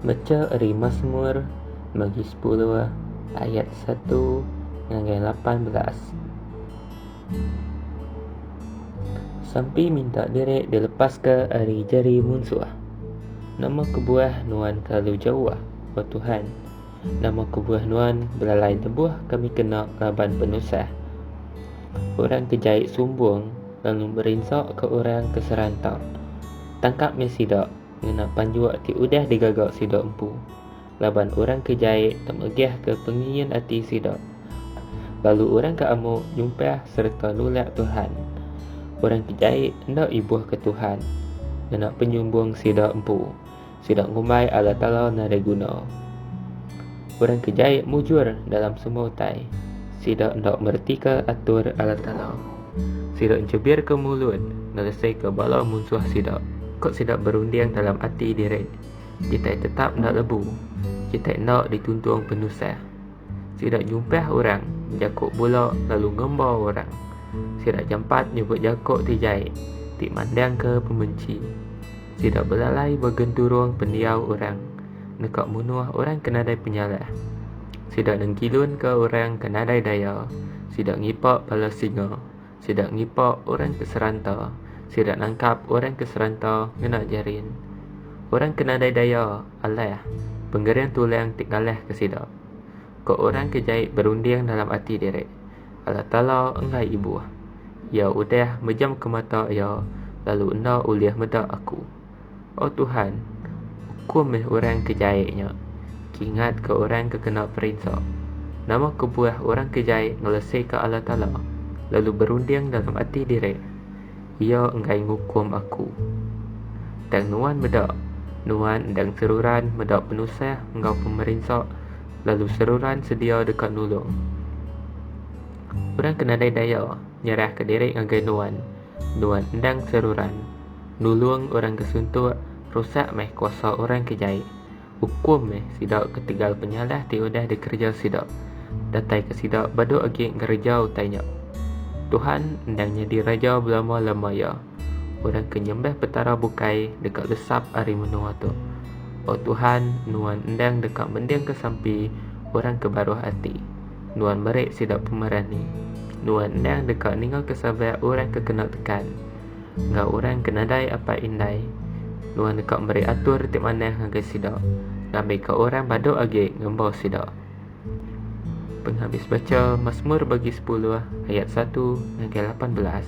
Mecha ari Masmur bagi sepuluh ayat satu ngagai lapan belas. Sampi minta diri dilepaska ari jari munsuh. Nama kebuah nuan kelalu jauh, O Tuhan? Nama kebuah nuan belalai lebuh kami kena raban penusah? Orang ke jai sumbung lalu merinsaka orang ke seranta. Tangkap meh sida. ngena panjua ti udah digaga sida empu laban orang ke jai temegahka pengingin ati sida, lalu orang ke amuk nyumpah sereta nulak Tuhan. Orang ke jai enda ibuhka Tuhan ngena penyumbung sida empu, sida ngumbai Allah Taala nadai guna. Orang ke jai mujur dalam semua utai, sida enda meretika atur Allah Taala. Sida enchebirka mulut ngeresaika bala munsuh sida. Ku sida berunding dalam ati diri, Kitai tetap enda lebu. Kitai enda dituntung penusah. Sida nyumpah orang, jako bula lalu ngemba orang. Sida jampat nyebut jako ti jai, ti mandangka pemenchi. Sida belalai begenturung pendiau orang. deka munuh orang ke nadai penyalah. Sida nengkilunka orang ke nadai daya, sida ngipak bala singa, sida ngipak orang ke seranta, sida nangkap orang ke seranta ngena jarin. Orang ke nadai daya alah pengering tulang ti ngalahka sida. Ko orang ke jai berunding dalam ati diri, Allah Taala enggai ibuh. Iya udah mejamka mata iya lalu enda ulih meda Aku. O Tuhan, ukum meh orang ke jai nya, kingatka orang ke kena perinsa. Nama kebuah orang ke jai ngeleseka Allah Taala, lalu berunding dalam ati diri, Iya enggai ngukum aku. Tang Nuan meda, Nuan endang seruran meda penusah enggau pemerinsa, lalu seruran sedia deka nulung. Orang ke nadai daya nyerahka diri ngagai Nuan, Nuan endang seruran. Nulung orang ke suntuk, rusak meh kuasa orang ke jai. Ukum meh sida ketegal penyalah ti udah dikereja sida. Datai ke sida bedok agi ngereja utai nya. Tuhan endang nyadi Raja belama-lama iya. Orang ke nyembah Petara bukai deka lesap ari menua tu. O Tuhan, Nuan endang deka mendingka sampi orang ke baruh ati. Nuan meri sida pemerani. Nuan endang deka ningaka sabar orang ke kena tekan. enggau orang ke nadai apai indai. Nuan deka meri atur ti manah ngagai sida, ngambika orang badu agi ngembu sida. Penghabis bacha Masmur bagi sepuluh ayat satu ngagai lapan belas.